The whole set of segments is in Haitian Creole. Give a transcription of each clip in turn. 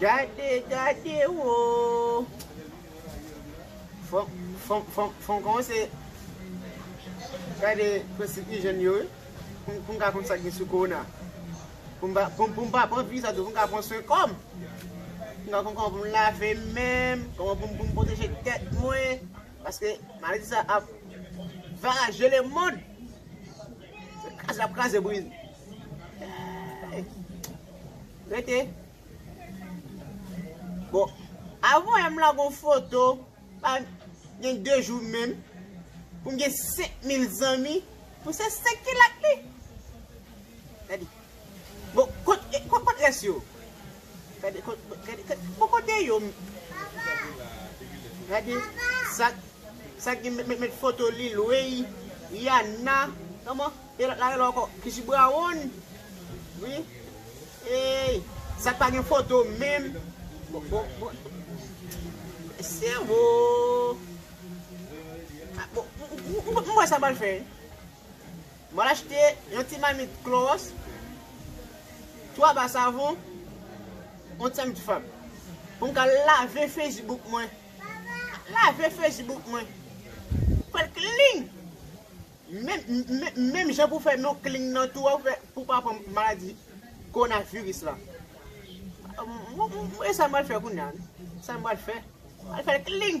Gade gade woo Fon komanse Gade prensip ijèn yo wi Pou m ka konn sa k gen sou korona Pou m pa pran vi sa tou Pou m ka pran swen kò m Pou m ka konn kòman pou m lave men m Kòman pou m pwoteje tèt mwen Paske maladi sa ap varaje le mond. Se kraze lap kraze brize. Rete. Bon, avon yam la gon foto, pa gen 2 jou menm, pou m gen 5000 zanmi, pou se 5 ki lak li. Gade. Bon kot kot rès yo. Gade bon kote yo. Gade sak sak gen met met foto lil weyy Rihanna kòman e lòt la rele ankò Kichi Brown wi eyy sak pa gen foto menm bon bon bon sèvo bon m wè sa m pral fè. Mwen achte yon ti mamit klowòs, 3 ba savon, yon ti mamit fab. Pou m ka lave Facebook mwen. Lave Facebook mwen. Fè l klin! Menm jan pou fè nou klin nan tou an pou pa pran maladi kowonaviris la. E sa m pral fè kounya. Sa m pral fè. Mwen fè l klin!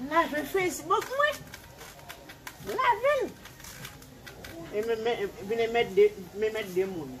M lave Facebook mwen. M lave l. E m vin e mèt de, m e mèt de moun.